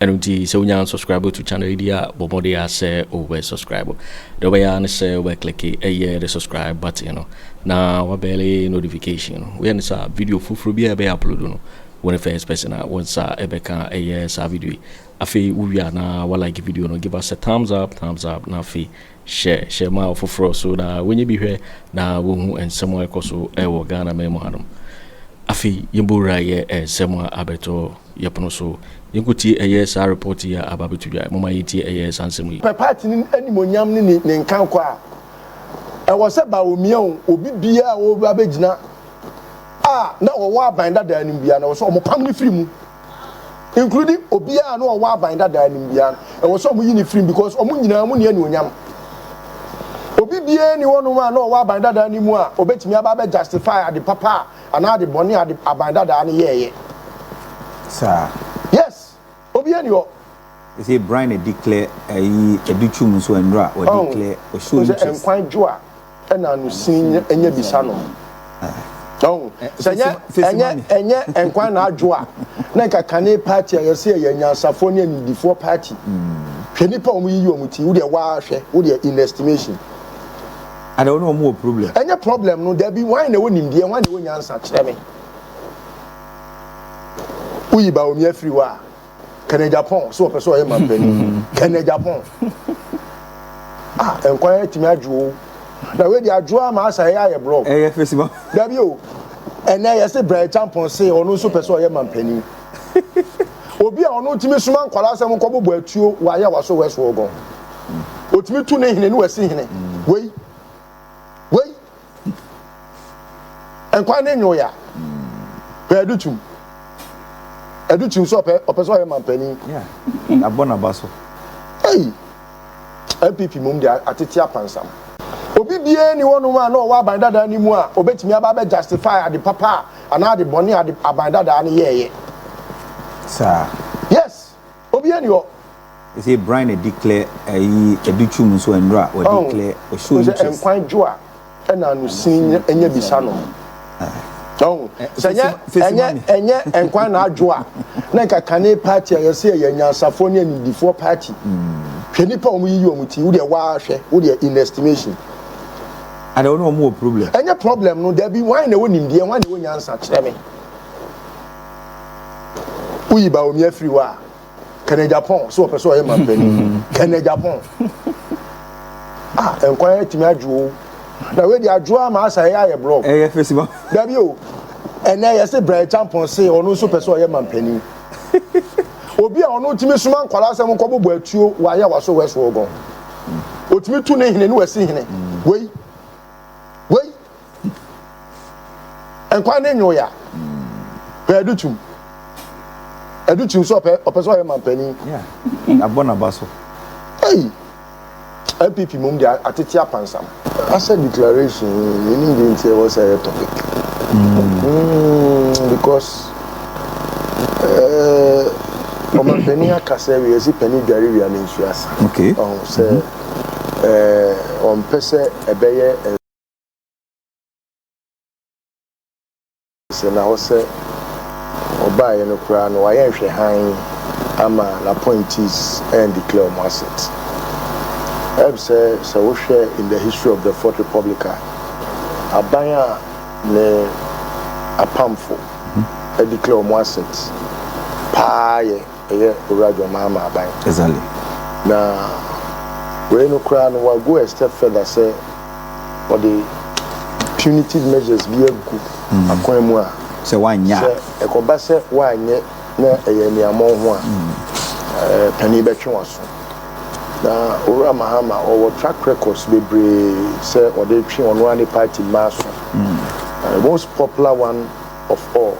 Ɛno nti sɛ wonya unsubscribe to channel yi deɛ a, bɔ mmɔden ara sɛ wobɛ subscribe. Deɛ wobɛyɛ ara ne sɛ wobɛ click ɛyɛ the subscribe button no na wabɛle notification no. Woyɛ ne saa a, video foforɔ biara a yɛbɛyɛ upload no, wo ne first person a wo nsa ɛbɛka ɛyɛ saa video yi. Afei wowie a na wa like video no, give us a thumbs up, thumbs up, na afei Hyɛ hyɛ ma afoforɔ so na wɔnyɛ bi hwɛ na wɔhu nsɛm a ɛkɔ so wɔ Ghanaman mu hanom. Afei yɛmbɔ wura yɛ nsɛm a abɛtɔ yɛ pono so. Yɛnkɔtie ɛyɛ saa report yi a aba abɛto dwa. Momma yɛntie ɛyɛ saa nsɛm yi. Pɛ party no animuonyam ne ne ne nkankɔ a ɛwɔ sɛ Bawumia o, obi biara a ɔreba abɛgyina a na ɔwɔ aban dadaa no biara na ɛwɔ sɛ wɔpam no firi mu. including obiara na ɔwɔ aban dada anim biara no ɛwɔ sɛ ɔmo yi ne firim because ɔmo nyinaa ɔmo ni anuonyam obi biara ni hɔnom a na ɔwɔ aban dada anim a obetumi aba abɛ justify ade papa a anaa ade bɔne a ade aban dada no yɛɛyɛ saa yes obiara ni hɔ ɛsɛ brian declare ɛyi ɛdi twum nso ɛnura ɔdeclare ɔsɔ interest nkwan dwo a ɛna no sin nyɛ ɛnyɛ bisa no ɔn sɛ nyɛ ɛnyɛ ɛnyɛ nkwan na adwo a na nka kane party a yɛsɛ yɛyɛ nyansafoɔ ne anidifoɔ party hwɛ nipa wɔn yiyi wɔn ti wodeɛ waahwɛ wodeɛ in estimation ada wɔn wɔn wɔ problem ɛnyɛ problem no dabi wɔn na ɛwɔ nimdeɛ wɔn na ɛwɔ nyansa kyerɛ me woyi ba omi afiri hɔ a kɛnɛ japan sɛ ɔpɛ sɛ ɔyɛ mampani kɛnɛ japan ah nkwan yɛ tumi adwo o na wei de adwo ama asa yɛ ayɛ blɔk ɛyɛ fesiba dabi o ɛnɛ yɛ se brɛ champon se ɔno nso pɛ sɛ ɔyɛ mampani obi a ɔno tumi soma nkwadaa sɛ nkɔ bɔbɔ atuo wɔ ayɛ waso wɛso ɔgɔn otumi tu ne hene ne wasi hene wei wei nkwa ne nyoe a pɛ ɛde tum ɛde tum sɛ ɔpɛ ɔpɛ sɛ ɔyɛ mampanin abɔ n'aba so ei npp mom de atete apansam obi biara ni hɔnom a na ɔwɔ aban dadaa no mu a obetumi aba abɛ justify ade papa a anaa ade bɔne ade aban dadaa no yɛɛyɛ saa yes Obiara ni hɔ. They say Brian a declare ayi ɛdu twum nso ɛnora wɔ declare wɔ show interest. Sɛ nkwan dwo a ɛna ano sin ɛnyɛ bisa no. Ɔn sɛ ɛnyɛ ɛnyɛ ɛnyɛ nkwan na adwo a na nka kane party a yɛsɛ ɛyɛ nyansafoɔ ne animdifoɔ party. Hwɛ nipa wɔn yiyi wɔn ti wo deɛ waa hwɛ wo deɛ in estimation. Ada wɔn wɔn wɔ problem. Ɛnyɛ problem no dabi wɔn na ɛwɔ nimdeɛ wɔn na ɛwɔ nyansa kyerɛ me. woyi baomia firi hɔ a kɛnɛ japan sɛ wɔpɛ sɛ ɔyɛ mampani kɛnɛ japan ah nkwan atumi adwo na wei de adwo ama asa yɛ ayɛ blɔk ɛyɛ fɛsi ma dabi o ɛnɛ yɛ se brɛ champɔn se ɔno nso pɛ sɛ ɔyɛ mampani obi a ɔno tumi soma nkwadaa asɛm nkɔ bobɔ atuo wayɛ waso wɛso ɔgɔn otumi tu ne hene ne wasi hene wei wei nkwa ne nyoya hwɛ ɛdu tum ɛdu tum sɛ ɔpɛ ɔpɛ sɛ ɔyɛ mampanin abɔ n'aba so ɛyi npp mom de atete apansam asɛ declaration ɛnim de nti ɛwɔ sɛ ɛyɛ topic hmm. Hmm, because ɔmampanin eh, aka sɛ wiase pani dware wia ne nsuasa sɛ eh, ɔmpɛ sɛ ɛbɛyɛ nsɛ na hɔ sɛ ɔbaeɛ no koraa no wayɛ nhwɛ hann ama n'appointees and declare wɔn asset. Ɛb sɛ sɛ wohwɛ in the history of the Fourth Republic a aban a ne apamfo declare wɔn asset paa yɛ Ɛyɛ Owura John Mahama aban. Exactly. Na wei no koraa no wa go a step further sɛ ɔde punitive measures bi agu mm. akwan mu a sɛ wanyɛ sɛ ɛkɔba sɛ wanyɛ na ɛyɛ aniamɔn ho a mm. eh, panin bɛtwe waso na owura mahama ɔwɔ track records bebree sɛ ɔde twe ɔno ara ne party mmaa so mm. eh, most popular one of all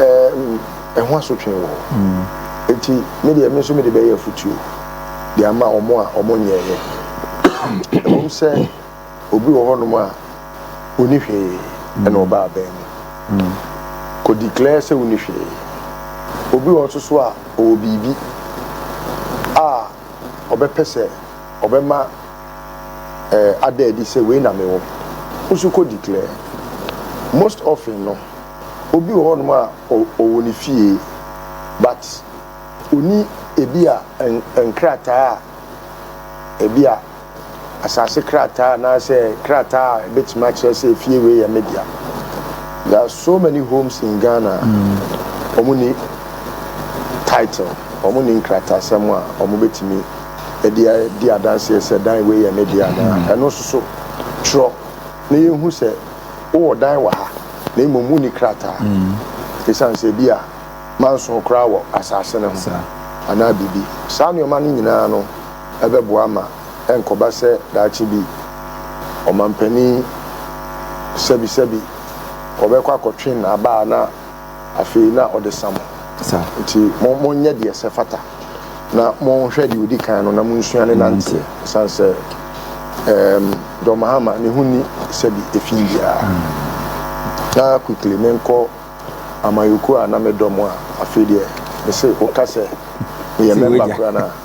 Ɛɛ, ɛho asotwe wɔ hɔ. Enti me deɛ, me nso mede bɛyɛ afutuo de ama wɔn a wɔnyɛeɛ. Ɛwom sɛ obi wɔ hɔnom a ɔni hwee ɛna ɔba abɛn mu kɔdiklɛɛ sɛ wonni hwee. Obi wɔ nso so a ɔwɔ biribi a ɔbɛpɛ sɛ ɔbɛma eh, ada adi sɛ wei na mewɔ. Wo nso kɔ declare. Most often no, obi wɔ hɔnom a ɔwɔ ne fie but ɔnni ebi a nkrataa a ebi a asase krataa anaasɛ krataa a ɛbɛtumi akyerɛ sɛ efie wei yɛ me dea. There are so many homes in Ghana a wɔnni title, wɔnni nkratasɛm a wɔbɛtumi de adi adanseɛ sɛ dan wei yɛ ne deɛ anaa, ɛno nso so twerɛ na yɛhu sɛ wowɔ dan wɔ ha na mmom wonni krataa ɛsiane sɛ bi a manso koraa wɔ asase no ho anaa biribi. Saa nneɛma no nyinaa no bɛboa ma ɛnkɔba sɛ daakye bi ɔmampanin sɛbisɛbi ɔbɛkɔ akɔtwe n'abaa na Afei na ɔde sa mo. Sa. Nti mo, monyɛ deɛ ɛsɛ fata, na monhwɛ deɛ odi kan no, na monsua ne nanteɛ, esiane sɛ, ɛɛm, John Mahama, ne ho nni sɛbi efi biara. Na quickly menkɔ Amanyokuo a na medɔ mo a, afei deɛ, mese, woka sɛ meyɛ mɛmba koraa no a.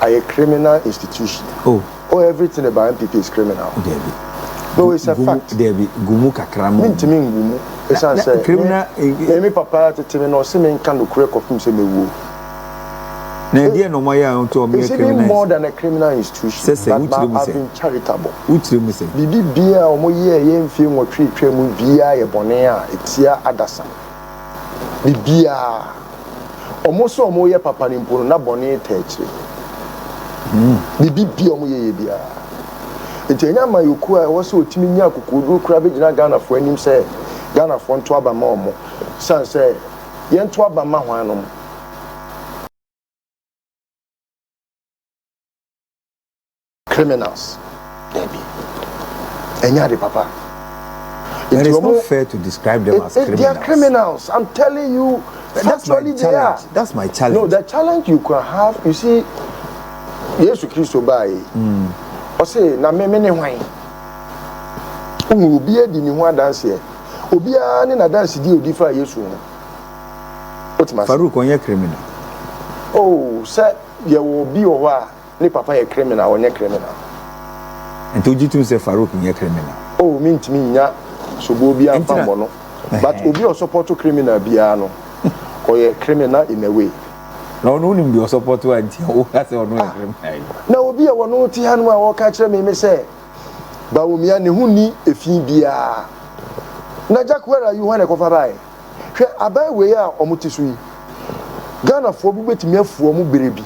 ayɛ criminal institution oh. oh everything about npp is criminal Debbie. no it's a gumu, fact Debbie. gumu kakra mu mentumi ngu mu ɛsiane sɛ criminal eh, eh. me papa tete me na ɔse menka nokorɛ kɔpem sɛ mɛwuo na ɛdeɛ na ɔmayɛ a ɔtɔ ɔmeyɛ criminal more than a criminal institution sɛ sɛ wotiri mu sɛ charitable wotiri mu sɛ biribi bia a ɔmoyɛɛ yɛ mfie nwɔtwe twa mu biaa yɛ bɔne a ɛtia adasa biribiara. Wɔn sɛ wɔyɛ papa no mpo no, na bɔne taa akyire. Biribiara wɔn yɛyɛ biara. Nti ɛnyɛ amanyɔkuo a ɛwɔ sɛ ɔtumi nya akokoɔduro koraa bɛgyina Ghanafoɔ anim sɛ Ghanafoɔ nto aba ma wɔn. Sane sɛ yɛnto aba mma hwan nom? Criminals dabi ɛnyɛ ade papa. It is not fair to describe them as criminals. They are criminals. I'm telling you. That's, that's my challenge. They are. That's my challenge. No, the challenge you can have, you see, Yesu Kristo baa yi. Ɔse na meme ne hwan? Ohun obiara di ne ho adanseɛ. Obiara ne n'adanse di odi fa Yesu ho. Wotumi ase. Farouk ɔnyɛ criminal. Oh, sɛ yɛwɔ obi wɔ hɔ a. Ne papa yɛ criminal, ɔnyɛ criminal. Nti wogye tom sɛ Farouk nyɛ criminal? Oh, mentumi nnya soboɔ biara mfa mmɔ no. But obi a ɔsɔpɔto criminal biara no, ɔyɛ criminal in a way. Na ɔno wonim deɛ ɔsɔpɔto a nti a woka sɛ ɔno yɛ criminal yi? Na obi a ɔno te hanom a ɔka kyerɛ me ne sɛ Bawumia ne ho nni efi biara. Na Jack where are you hwan na ɛkɔfa baeɛ? Hwɛ aban wei a ɔmo te so yi. Ghanafoɔ bo bɛtumi afu ɔmo berɛ bi.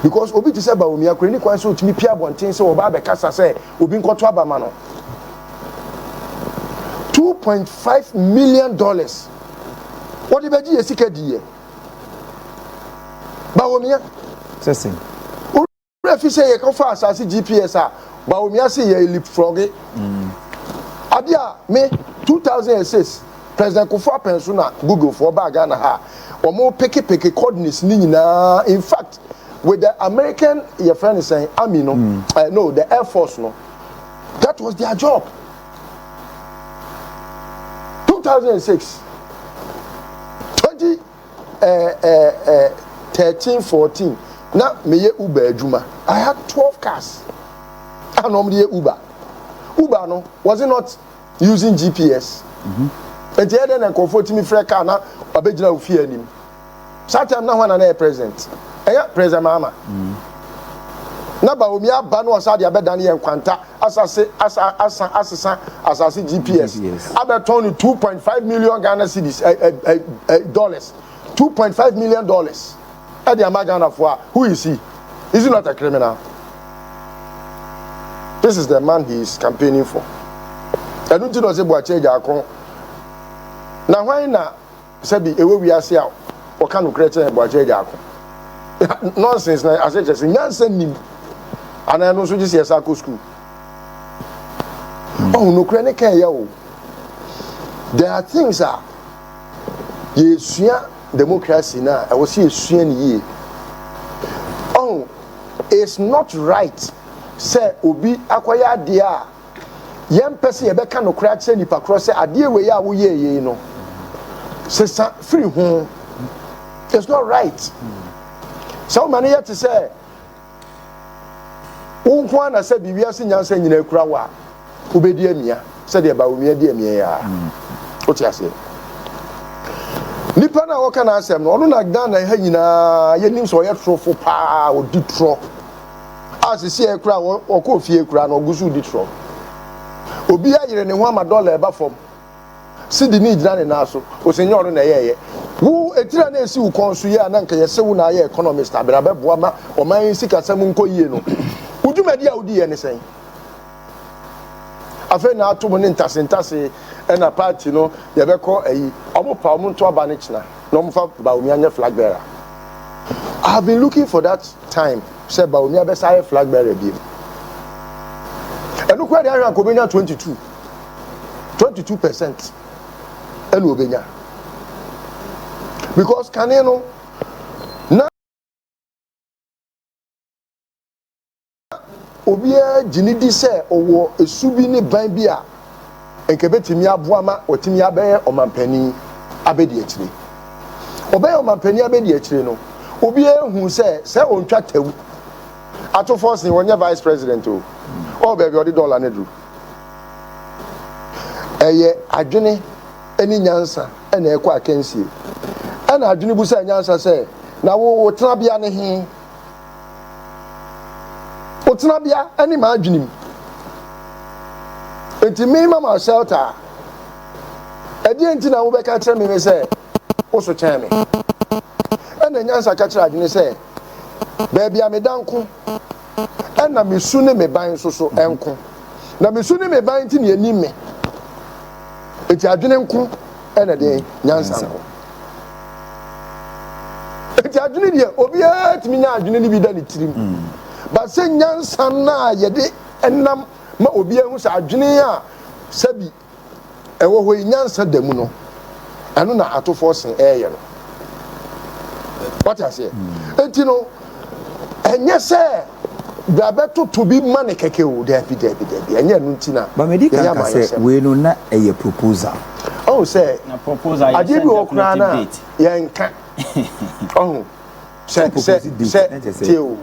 Because obi te sɛ Bawumia koraa ɛnni kwan sɛ ɔtumi pie abɔnten sɛ ɔba abɛkasa sɛ obi nkɔto aba ma no. Two point five million dollars wɔde bɛgye yɛ sika diiɛ. Bawumia. Sɛ sɛn? Werɛ fi sɛ yɛkɔfaa asase GPS a Bawumia se yɛre leapfrogge. Ade a me 2006 President Kufuor apɛnso na Google foɔ baa Ghana ha a wɔn peke peke coordinates no nyinaa in fact with the American yɛfrɛ no sɛn army no eh no the air force no that was their job 2006 20 ɛɛ ɛɛ thirteen fourteen na meyɛ uber adwuma i had twelve cars a na wɔn de yɛ uber uber no was it not using gps nti ɛdɛ na nkurɔfoɔ tumi frɛ car na wabɛgyina wo fie anim saa time na ho ana na yɛ president ɛyɛ president maama na baomi aba na ɔsa de abɛdane yɛ nkwanta asase asa asa asesa asase gps abɛtɔn no two point five million ghana cedis ɛ ɛ ɛ dollars two point five million dollars ɛde ama ghanafoɔ a who is he is he not a criminal this is the man he is campaigning for ɛnu ti na ɔsɛ buakyɛ gyaako na hwan na. Sɛbi ewɔ wiase a wɔka nokorɛ kyerɛ yɛn bɔakyɛ agya ako. Nonsense na ase kyerɛ sɛ nyansa nnim anaa ɛno nso gye sɛ yɛsa akɔ sukuu. Ɔho hmm. nokorɛ ne ka ɛyɛ o. There are things a yɛsua democracy na ɛwɔ sɛ yɛsua ne yie. Ɔho it's not right sɛ obi akɔyɛ adeɛ a Yɛmpɛ sɛ yɛbɛka nokorɛ akyerɛ nipa korɔ sɛ adeɛ wei a woyɛɛ yei no, sesa firi ho. It's not right. Sɛ woma no yɛ te sɛ wo nko ara na sɛ bi wiase nyansa nyinaa kura wo a, wobɛdi amia sɛdeɛ Bawumia di amia yi ara. Wote aseɛ? Nipa no a wɔka n'asɛm no, ɔno na Ghana ha nyinaa yɛnim sɛ ɔyɛ torofo paa, ɔdi torɔ. a sisi a ɛkura wɔn wɔkɔɔ fie kura no ɔgu so redi torɔ. Obi ayere ne ho ama dɔla a ɛba fam. Sidi no regyina ne nan so. Ose nyɛ ɔno na ɛyɛeɛ. Wo etiri a na esi wo kɔn so yi a na anka yɛse wo na ayɛ economist abena bɛboa ma ɔman yi sikasɛm nkɔ yie no, wo dwumadi a wodiiɛ ne sɛn? Afei na ato mu ne ntase ntase ɛna party no yɛbɛkɔ ayi ɔmo pa ɔmo nto aba ne kyena na ɔmo fa Bawumia nyɛ flag bearer I have been looking for that time sɛ Bawumia bɛsa ayɛ flag bearer biem ɛno kura de ahwɛ anka obenya 22 22 percent ɛna obenya because kane no obiara gye no di sɛ ɔwɔ su bi ne ban bi a anka ebetumi aboa ma watumi abɛyɛ ɔmanpanyin abadiakyire. Ɔbɛyɛ ɔmanpanyin abadiakyire no, obiara hu sɛ sɛ ontwa tawu ato fɔ sen ɔnyɛ vice president o, ɔwɔ baabi a ɔde dɔla no duru. Ɛyɛ adwene ne nyansa na ɛkɔ akansie. Ɛna adwene bu sɛ nyansa sɛ, na wo wo tenabea ne he? Wo tenabea ne m'adwene mu. Enti me mama shelter a, ɛdeɛ nti na wobɛka kyerɛ me sɛ wo so kyɛn me? Ɛna nyansa ka kyerɛ adwene sɛ, baabi a meda nko, ɛna me su ne me ban nso so nko. Na me su ne me ban nti na ɛnim me. Enti adwene nko ɛna deɛ nyansa nko. nti adwene deɛ obiara tumi nya adwene no bi da ne tirim mm. ba sɛ nyansa no a yɛde nam ma obiara hu sɛ adwene a sɛbi ɛwɔ hɔ yi nyansa da mu no ɛno na atofoɔ sen ɛɛyɛ no wate aseɛ mm. nti no Ɛnyɛ sɛ yɛabɛtoto bi ma no kɛkɛ o, daabi, daabi, daabi, ɛnyɛ ɛno nti na Ma medi kan yɛyɛ ka sɛ amanyɔsɛm. wei no na ɛyɛ proposal. Ɔhu sɛ Na proposal yɛ adeɛ sɛ bi wɔ hɔ koraa no a documented date. yɛnka. Ɔhu sɛ sɛ Proposed date, sɛ na kyerɛ sɛ- tie o,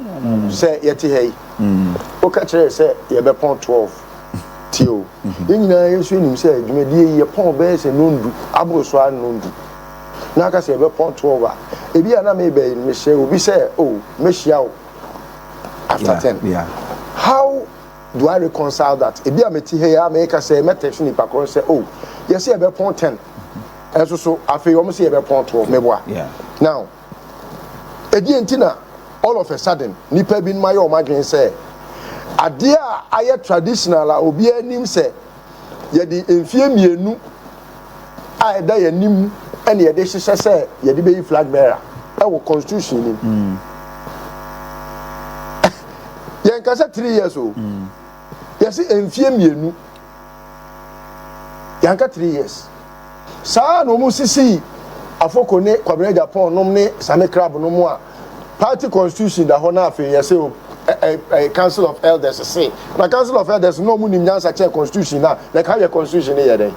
sɛ yɛte ha yi, woka kyerɛ yɛ sɛ yɛbɛpɔn 12, tie o, yɛn nyinaa yɛn nso yɛnim sɛ dwumadie yi yɛpɔn bɛyɛ sɛ nnɔndu aboro so ara nnɔndu. na anka sɛ yɛbɛpɔn twelve a ebi a na me bɛyi no mehyɛ obi sɛ oh mehyia wo after ten how do I reconcile that ebi a meti ha yi a meka sɛ mɛ text nipa koro sɛ oh yɛsɛ yɛbɛpɔn ten ɛso so afei wɔn sɛ yɛbɛpɔn twelve meboa now ɛdeɛ nti na all of a sudden nipa bi noma yɛ wɔn adwene sɛ adeɛ a ayɛ traditional a obiara nim sɛ. Yɛde mfeɛ mmienu a ɛda yɛn anim ɛna yɛde hyehyɛ sɛ yɛde bɛyi flag bearer ɛwɔ constitution nim. Mm. yɛn ka sɛ three years o. Oh. Mm. Yɛsi mfeɛ mmienu. Yɛn ka three years. Saa ara na wɔsisii Afoko ne Kwabena Agyapong nom ne Same Krab no mo a party constitution da hɔ na afei yɛse o ɛɛ council of elders se. Na council of elders no na wɔn nim nyansa kyɛn constitution no a like how yɛ constitution no yɛ dɛn?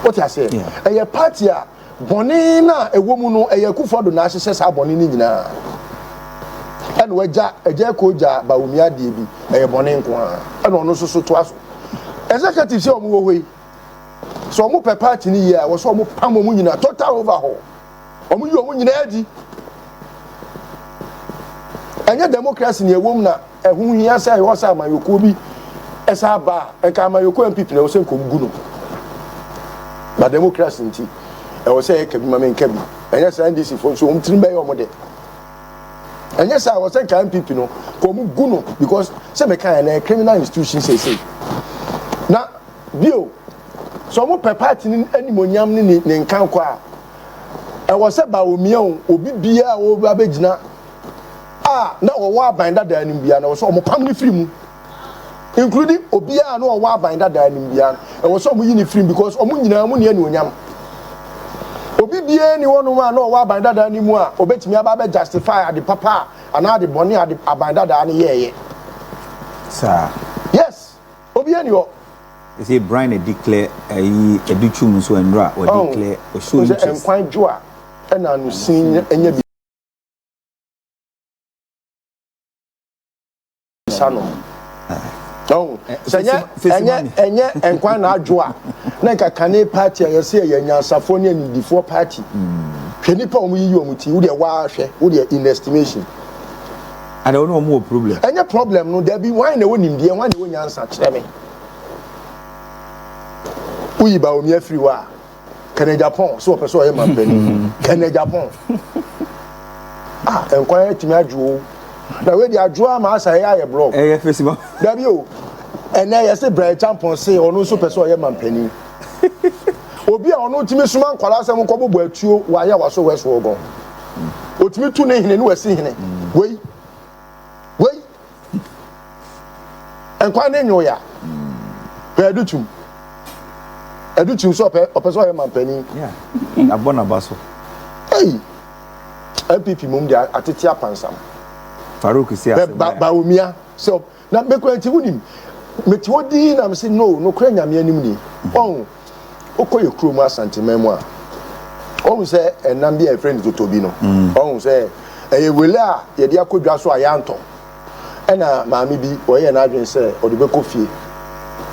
Wote aseɛ? Ɛyɛ party a Bɔne no a ɛwɔ mu no, ɛyɛ Akufo-Addo na ahyehyɛ saa bɔne no nyinaa. Ɛna wagya Agya Ekow gya Bawumia adeɛ bi, ɛyɛ bɔne nko ara. Ɛna ɔno nso so toa so. Executives a wɔwɔ hɔ yi, sɛ wɔpɛ party no yie a, ɛwɔ sɛ wɔpam wɔn nyinaa, total overhaul. Wɔyi wɔn nyinaa di. Ɛnyɛ democracy na ɛwɔ mu na Ɛho hia sɛ ɛwɔ sɛ amanyɔkuo bi san ba a, nka amanyɔkuo a NPP na ɛwɔ sɛ nka wɔgu no. Ba democracy nti, ɛwɔ sɛ yɛka bi ma menka bi. Ɛnyɛ saa NDC foɔ nso, wɔn tirim bɛyɛ wɔn dɛ. Ɛnyɛ saa, ɛwɔ sɛ nka NPP no, ka wɔn gu no because sɛ meka yɛ na yɛ criminal institution sɛsɛ. Na bio, sɛ wɔn pɛ party ne animonyam ne ne nkankɔ a, ɛwɔ sɛ ba wɔmia o, obi biara a wɔbɛgyina a na wɔwɔ aban dadaa no mu biara, na ɛwɔ sɛ wɔpam no firi mu. Including obiara a na ɔwɔ aban dadaa no mu biara no, ɛwɔ sɛ wɔyi no firi mu because wɔn nyinaa mu ni anuonyam. Obi biara ni hɔnom a na ɔwɔ aban dadaa no mu a obetumi aba abɛ justify ade papa a anaa ade bɔne a ade aban dadaa no yɛɛyɛ. Saa. Yes, obiara ni hɔ. Ɛsɛ Brian na declare ayi ɛdi twum nso ɛnura wɔ declare ɔsɔ interest. Ɛnkwan dwo a ɛna anusin ɛnyɛ bi. nsa no ɔn sɛ nyɛ ɛnyɛ ɛnyɛ nkwa na adwo a na nka kane paati a yɛsɛ yɛ nyansafoɔ ne anidifoɔ paati hwɛ nipa a wɔn yiyi wɔn ti wo deɛ waahwɛ wo deɛ in estimation. ana wɔn na wɔn wɔ problem. ɛnyɛ problem no dabi wɔn na ɛwɔ nimdeɛ wɔn na ɛwɔ nyansa kyerɛ mi woyi baomi afiri hɔ a. kɛnɛ japan sɛ ɔpɛ sɛ ɔyɛ mampani kɛnɛ japan ah nkwan atumi adwo o na wei de adwo ama asa ɛyɛ ayɛ blɔk ɛyɛ fesiba dabi o ɛnɛ yɛse brɛ champɔn se ɔno nso pɛ sɛ ɔyɛ mampani obi a ɔno tumi soma nkwadaa sɛ nkɔ bɔbɔ atuo wɔ ayɛ waso wɛso ɔgɔn otumi tu ne hene ne wasi hene wei wei nkwa ne nyoe a pɛ ɛde tum ɛde tum sɛ ɔpɛ ɔpɛ sɛ ɔyɛ mampanin abɔ n'aba so ɛyi npp mom de atete apansam farouk si ase bɛ ba omia sɛ na mekura nti wonim mete hɔ dii na mese no nokorɛ nyame anim ni ɔn wokɔ yɛ kurom asanteman mu a ɔhu sɛ ɛnam bi a yɛfrɛ no totobi no mm. ɔhu sɛ ɛyɛ wele a yɛde akɔ dwa so a yɛantɔ ɛna maame bi ɔyɛ n'adwene sɛ ɔde bɛkɔ fie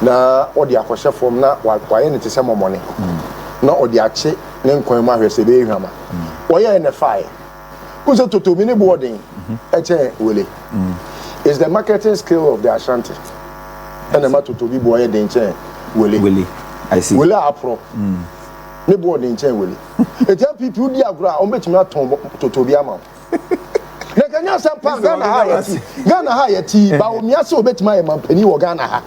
na ɔde akɔhyɛ fam na wayɛ ne te sɛ mɔmɔne mm. na ɔde akye ne nkwan mu ahwɛ sɛ ɛbɛyɛ hwama mm. ɔyɛɛ ne faeɛ Who said Toto mini boarding? Eche wele. It's the marketing skill of the Ashanti. And the Toto bi boy den chen wele. Wele. I see. Wele apro. Mm. Ne boarding chen wele. It's a people di agora on betumi aton Toto bi ama. Na kanya asem pa Ghana ha yati. Ghana ha yati. Ba omi ase obetumi aye mampani wo Ghana ha.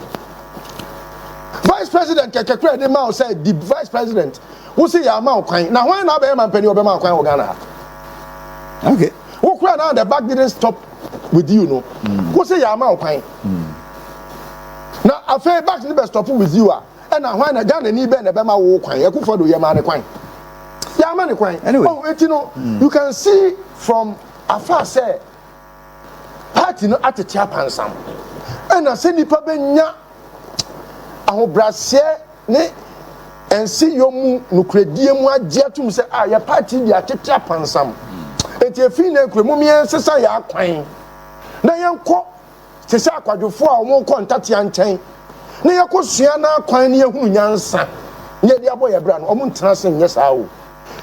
Vice president kekekre de ma o say the vice president Wo se yɛama wo kwan. Na hwan na abɛyɛ manpanin a ɔbɛma wo kwan wɔ Ghana ha? Okay. Wo kura na the back didn't stop with you no. Mm. Wo se yɛama wo kwan. Mm. Na afei back ne bɛ stop with you a ɛna hwan na Ghana ni bɛ na ɛbɛma wo kwan. Akufo do yɛma ne kwan. Yɛama ne kwan. Anyway. Oh, eti no, mm. you can see from afar sɛ Party no atete apansam. Ɛna sɛ nipa bɛnya ahobraseɛ ne nseyɔ mu nokorɛdie mu agye atom sɛ a ah, yɛ party de atete apansam. Enti ɛfiri na nkura mu meɛ nsesa yɛ akwan na yɛnkɔ te sɛ akwadwofoɔ a wɔkɔ ntatea nkyɛn na yɛkɔsua no akwan ne yɛhunu nyansa ne yɛde abɔ yɛ bra no ɔmo ntena se nyɛ saa o.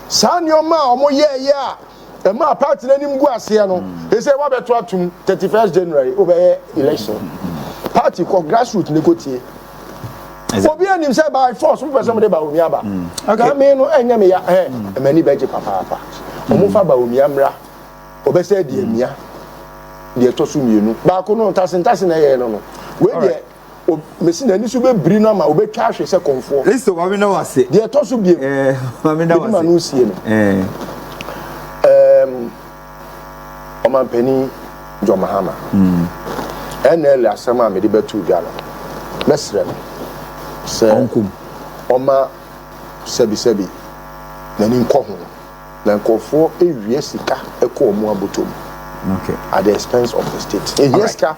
Saa nneɛma a wɔyɛeɛ a ɛmaa party no anim gu aseɛ no, ɛsɛ wabɛto atom 31st January wobɛyɛ election. Party kɔ grassroot ne kɔtie. Obi anim sɛ by force wopɛ sɛ mode Bawumia ba. Nka me no ɛnyɛ me ya ɛ ɛmani bɛgye papaapa. Wɔmfa Bawumia mmra. Ɔbɛsɛ deɛ mia deɛ ɛtɔ so mmienu. Baako no ntase ntase na ɛyɛɛ no no. Wei deɛ. o, mese n'ani so bɛbiri no ama ɔbɛtwa ahwe sɛ kɔmfoɔ. Kristo, Maame da wo ase. Deɛ ɛtɔ so biom, eh, Maame da wo ase. Ɛdi ma no sie no. Eh. Um, ɔmampanin John Mahama. Mm. NL asɛm a mede bɛto dwa no, mɛsrɛ no sɛ ɔma sɛbisɛbi n'ani nkɔ ho na nkurɔfoɔ ɛwie sika ɛkɔ ɔmo abotɔ mu at the expense of the state ɛhia sika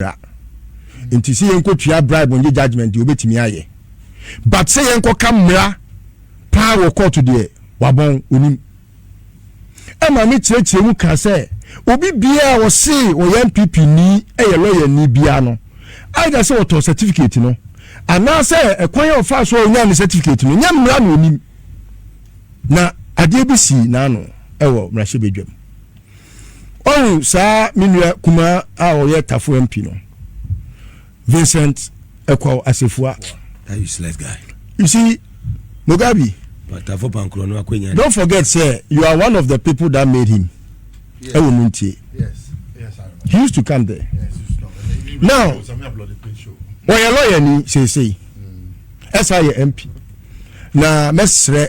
bra nti sɛ yɛnkɔtua bribe nye judgment deɛ wobɛtumi ayɛ but sɛ yɛnkɔka mmara paa wɔ court deɛ wabɔn onim ɛma me kyerɛkyerɛ mu ka sɛ obi biara wɔsee ɔyɛ npp ni ɛyɛ lɔyɛ ni biara no either sɛ wɔtɔɔ certificate no anaasɛ ɛkwan a ɔfaa so a ɔnyaa ne certificate no nyɛ mmara na onim na adeɛ bi sii n'ano ɛwɔ mmarahyɛbadwam Ɔhu saa me nua kumaa a ɔyɛ Tafo MP no, Vincent Ekwaw Asefua. That useless guy. You see, Mugabe. Tafo Pankro no akwanya. Don't forget say you are one of the people that made him. Yes. Ewo muntie. Yes. Yes, I remember. He used to come there. Yes, he used to come. And he now, wɔyɛ lɔyɛ ni seesei ɛsa yɛ mp na mɛsrɛ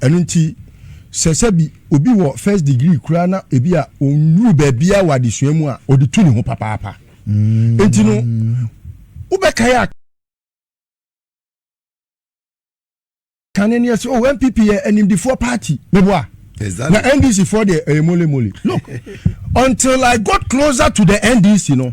Ɛno nti, sɛ sɛbi obi wɔ first degree koraa na ebi a ɔnnuru baabiara wɔ adesua mu a, ɔde tu ne ho papaapa. Mm. Nti no, wobɛkae a kane ne ɛsɛ, oh, NPP yɛ animdefoɔ party, meboa. Exactly. Na NDC foɔ deɛ ɛyɛ mole mole. Look, until I got closer to the NDC no,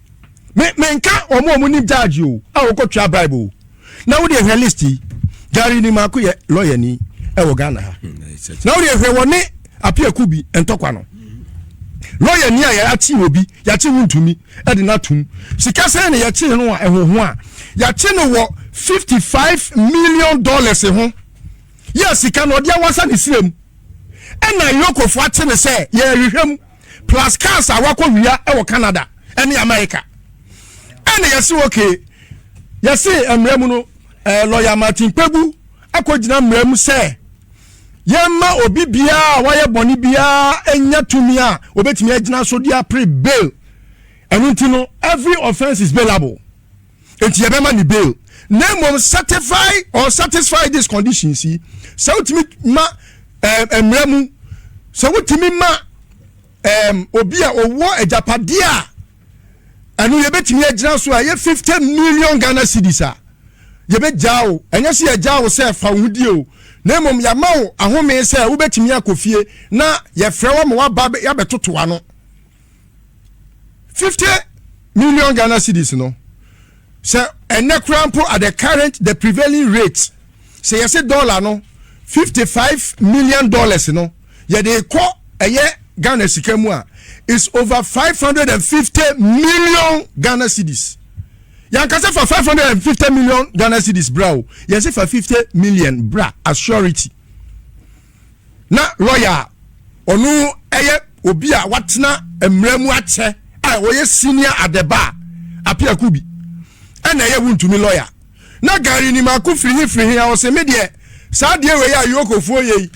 me me nka wɔn a wɔn nim gyaagye o a wɔkɔ tua bribe o na wɔde ehwɛ list yi gari ni mako yɛ lɔya ni ɛwɔ ghana ha hmm, na wɔde ehwɛ wɔn ne apiaku bi ntɔkwa no lɔya ni a yɛakye obi yɛakye ho ntumi ɛde n'atum sika sɛn na yɛkye no a ɛhoho a yɛakye no wɔ fifty five million dollars ho yɛ sika na ɔde awasa ne sira mu ɛna yɛkɔfo akye no sɛ yɛrehwehwɛ mu. plus cars a wakɔ wia wɔ canada ne america ɛna yɛse ok yɛse mmerɛ mu no eh, lɔya martin kpegu akɔgyina mmerɛ mu sɛ yɛmma obi biara a wayɛ bɔne biara ɛnya tumi a wɔbɛtumi agyina so de apere bail ɛno nti no every offense is bailable Enti yɛbɛma no bail na mmom certify or satisfy these conditions yi, sɛ wotumi ma ɛɛm eh, mmara mu, sɛ wotumi ma ɛɛm eh, obi a ɔwɔ agyapadeɛ a ɛno yɛbɛtumi agyina so a ɛyɛ fifty million Ghana cedis a yɛbɛgyaa wo, ɛnyɛ sɛ yɛgyaa wo sɛ fa wo ho die o na mmom yɛama wo ahome sɛ wobɛtumi akɔ fie na yɛfrɛ wo ma woaba yɛabɛtoto ano. fifty million ghana cedis no sɛ ɛnɛ koraa mpo at the current the prevailing rate sɛ yɛsɛ dollar no fifty five million dollars no yɛde kɔ ɛyɛ ghana sika mu a is over five hundred and fifty million ghana cedis yankasa fa five hundred and fifty million ghana cedis bra o yɛsɛ fa fifty million bra assurity. na lɔya a ɔno yɛ obi a watena mmara mu akyɛ a ɔyɛ senior adɛba a apiako bi ɛna ɛyɛ wontumi lɔya na gari ni mako firi he firi he a ɔse me deɛ saa deɛ wei a yokofoɔ yei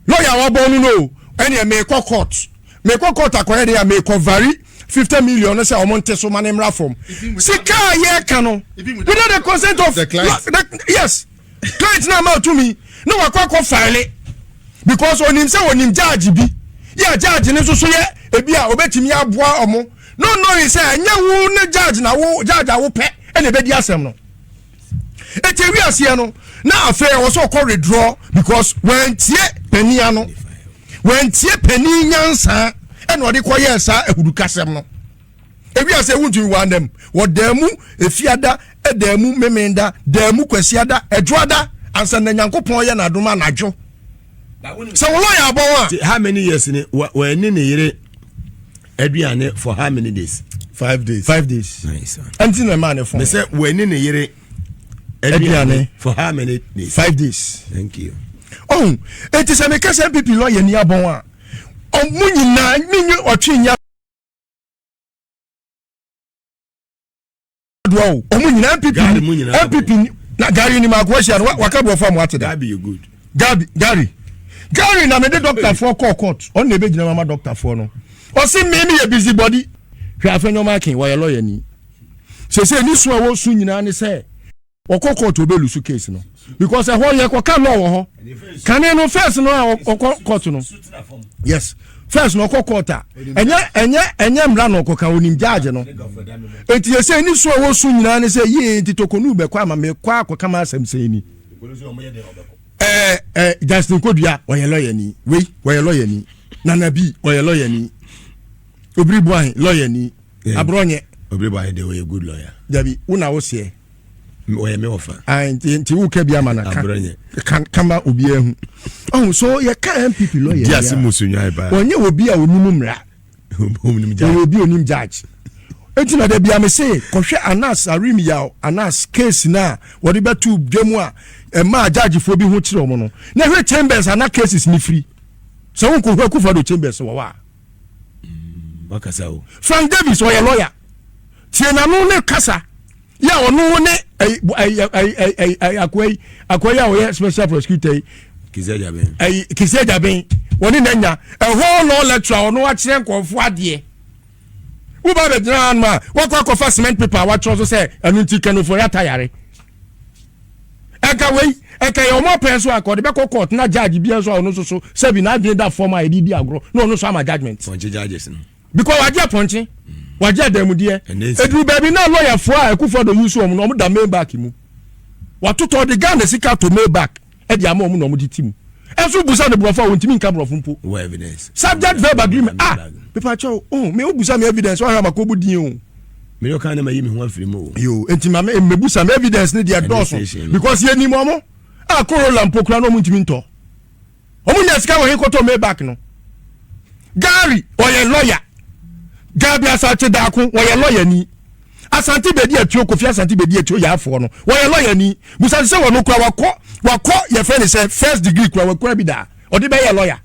lɔya a wabɔ no no ɛneɛ meekɔ court meekɔ court akɔyɛ deɛ a meekɔ vari 50 million no sɛ ɔmo nte so ma ne mmra fam sika a yɛka no without the consent of the client the, yes Client no ama tumi na wakɔ akɔ file because onim sɛ onim judge bi yɛ a judge no nso so yɛ ebi a obetumi aboa ɔmo no knowing sɛ ɛnyɛ wo ne judge na wo judge a wopɛ ɛna ebedi asɛm no eti ewi aseɛ no na afei ɛwɔ sɛ ɔkɔ redraw because wɔntie panin ano wɔntie panin nyansa ɛna ɔde kɔ yɛɛ saa ahudukasɛm no. Ewiase ewu ntumi wɔ anam wɔ Daamu, Efiada, Ɛdaamu, Memenda, Daamu, Kwasiada, Adwoada, ansa na Nyankopɔn yɛ n'adom anadwo. Sɛ wo lɔya abɔ ho a. Ti how many years ni wa wa ni ne yere aduane for how many days? Five days. Five days. Nice. Ɛnti na ɛmaa ne fɔn. Mesɛ wa ni ne yere aduane for how many days? Five days. Thank you. Oh, eti sɛ mekasa pipi lɔya ni abɔn a, ɔmo nyinaa menye ɔtwe nya doa o ɔmo nyinaa npp npp na gari ni maako ahyia no waka borɔfo a mo ate da gabi gari gari na mede dɔktafoɔ kɔɔ court ɔno na ɛbɛgyina mama dɔktafoɔ no ɔse me meyɛ busy body hwɛ afɛ nyɔma aken wɔyɛ lɔya ni sɛsɛ ni so a wɔsu nyinaa ne sɛ ɔkɔ court ɔbɛ lusu case no because ɛhɔ yɛ kɔ ka law wɔ hɔ kane no first no a ɔkɔ court no yes first no ɔkɔ court a ɛnyɛ ɛnyɛ ɛnyɛ mmra na ɔkɔ ka onim judge no eti yɛ sɛ ɛni so a wɔsu nyinaa ne sɛ yie nti tokonu bɛkɔ ama mɛ kɔ akɔ kama asɛm sɛ ni ɛɛ ɛɛ Justin Kodua ɔyɛ lɔya ni wei ɔyɛ lɔya ni Nana Bi ɔyɛ lɔya ni Obiri Buahin lɔya ni aburɔ nyɛ Obiri Buahin de ɔyɛ good lɔya dabi wuna o seɛ. ɔyɛ me ɔfa ah, nti woka bi ama no kama obiaa hu ɔhu so yɛka mpp lɔyɛase mu sonwae paa ɔnyɛ obi a ɔnim mmara ɔyɛ obi ɔnim judge ɛti na da bia me se kɔhwɛ anas arim yaw anas case no a wɔde bɛto dwa mu a ɛma judgefoɔ bi ho kyerɛ ɔmo no na hwɛ chambers ana cases ne firi sɛ wonkɔhwɛ kufa do chambers wɔ hɔ a wakasa o. Frank Davis ɔyɛ lawyer tie n'ano ne kasa yɛ a ɔno ne akoa yi akoa yi a ɔyɛ special prosecutor yi kisi agyaben wɔne na nya ɛhɔ law lecturer ɔno akyerɛ nkɔɔfo adeɛ woba bɛgyina ano a wakɔ akɔfa cement paper a watwerɛ so sɛ ɛno nti kanofori atayare ɛka wei ɛka yɛ wɔn apɛn so anka ɔde bɛkɔ court na judge bi nso a ɔno nso so sɛbi n'adwene da fam a yɛde di agorɔ na ɔno nso ama judgement. pɔnkye judges no. because wagye apɔnkye wagye adamudeɛ eduru baabi na lɔyafoɔ a ɛkufoɔ do yi so wɔn no wɔn da maybach mu watotɔ de ghana sika to maybach. de ama wɔn na wɔn de ti mu ɛnso busa no borɔfo a wɔntumi nka borɔfo mpo subject verb agreement ah pepa kyɛw oh me obusa me evidence wahwɛ ama kɔbu din o mene ɔka ne ma yi me ho afiri mu o yo enti ma mebusa me evidence ne deɛ dɔɔso because yɛnim ɔmo a korola mpo kora na ɔmo ntumi ntɔ ɔmo nya sika wɔ he kɔtɔ maybach no gary ɔyɛ lɔya gabi asakye daako ɔyɛ lɔya ni asante bedi atuo kofi asante bedi atuo yɛ afoɔ no wɔyɛ lɔya ni busa sɛ wɔn kura wakɔ wakɔ yɛfrɛ ne sɛ first degree kura wakura bi da ɔde bɛyɛ lɔya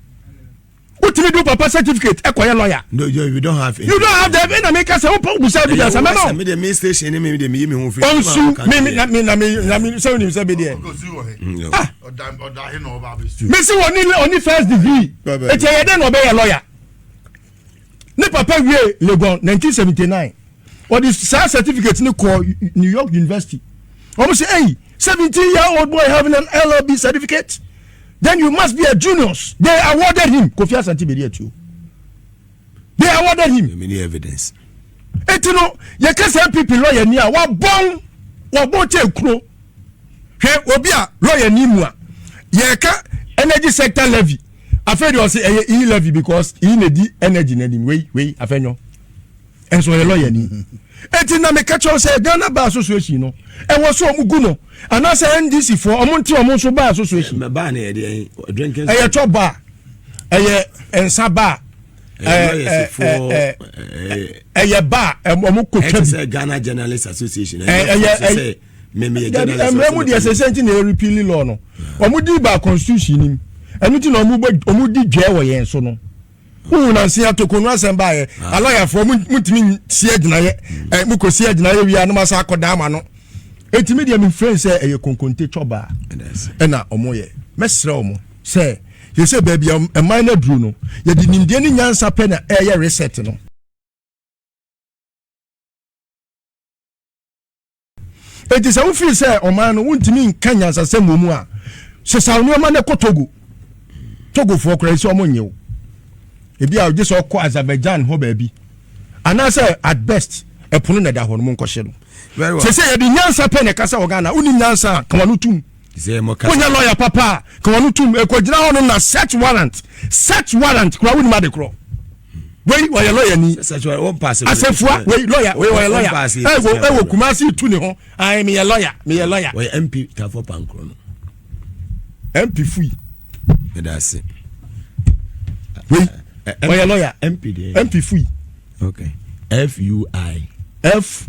wotumi do papa certificate ɛkɔ yɛ lɔya. no you, you don't have any. you don't have them ɛna mi ka sɛ o pɔn busa bi da sa mɛma o. mi de mi station ni mi de mi yi mi ho fi. ɔnsu mi mi na mi na mi na mi sɛ o ni mi sɛ bi deɛ. ah mesi wɔ ni wɔ ni first degree eti ɛyɛ dɛ na ɔbɛ yɛ lɔya. Ne papa wiee Legon 1979. Ɔde saa certificate no kɔɔ New York University. Wɔn sɛ, hey, 17 year old boy having an LLB certificate? Then you must be a genius. They awarded him. Kofi Asante Bedi Atuo. They awarded him. Many evidence. Eti no, yɛka sɛ NPP lawyer ni a, wabɔn, wabɔn kyɛ kuro. Hwɛ obi a lawyer ni mu a, yɛka energy sector levy. afei de ɔsi ɛyɛ e levy because e na di energy na nim wei wei afɛ nyɔ ɛnso ɔyɛ lɔya ni eti na meka kyɛw sɛ ghana bar association no ɛwɔ so ɔmo gu no anaasɛ ndc fo ɔmo nti ɔmo nso bar association ɛyɛ tɔ bar ɛyɛ nsa bar ɛyɛ bar ɔmo kɔ twa bi ɛyɛ dabi mmerɛ mu deɛ sɛsɛ nti na ɛrepili lɔ no wɔn di ba constitution nim ɛno ti na wɔn bɛ wɔn di dwɛ wɔ yɛn so no wohu nansi atoko no asɛm baayɛ ah. alɔyafoɔ mu ntumi si agyinayɛ ɛ eh, mu kɔ si agyinayɛ wia anum asa akɔ dan ama no etimi deɛ mi fɛn sɛ ɛyɛ konkonte twɔbaa ɛna wɔn yɛ mɛsrɛ wɔn sɛ yɛsɛ baabi a ɛman no aduru no yɛde nimdeɛ ne nyansa pɛ na ɛyɛ reset no Enti sɛ wofii sɛ ɔman no wontumi nka nyansasɛm wɔ mu a, sesaw nneɛma no kɔ Togo. Togofoɔ koraa sɛ wɔn nyew. Ebi a ogye sɛ ɔkɔ Azerbaijan hɔ baabi. Anaasɛ at best ɛpono na ɛda hɔ no mo nkɔhyɛ no. Sɛ sɛ yɛde nyansa pɛ na ɛka sɛ wɔ Ghana wonim nyansa a, ka wano tum. wonya lɔya papa a ka wɔno tom ɛkɔgyina hɔ nom na search warrant search warrant kora wonim ade korɔ wei ɔyɛ lɔya ni asɛfua wei lɔya wei ɔyɛ lɔya ɛwɔ kumase tu ne ho ayi meyɛ lɔya meyɛ lɔya ɔyɛ mp tafo pankoro no mp fui ɛda ase wei ɔyɛ lɔya mp fui fui.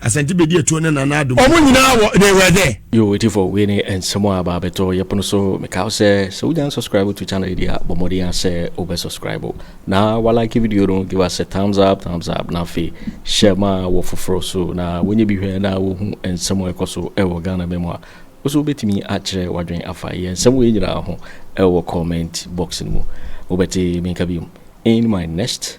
Asante bedi etuo ne nana adum. Ɔmo nyinaa wɔ they were there. Yo Etifo, wei ne nsɛm a ɛba abɛtɔ yɛ pono so. Mekae wo sɛ, sɛ wunya nsubscribe to channel yi deɛ a, bɔ mmɔden ara sɛ wobɛ subscribe na wa like video no, give us a thumbs up, thumbs up, na afei share ma wɔ foforɔ so na wɔnyɛ bi hwɛ na wɔhu nsɛm a ɛkɔ so wɔ Ghana man mu a, wo nso wobɛtumi akyerɛ w'adwene afa yɛn nsɛm wei nyinaa ho wɔ comment box no mu. Wobɛte me nka biom in my next.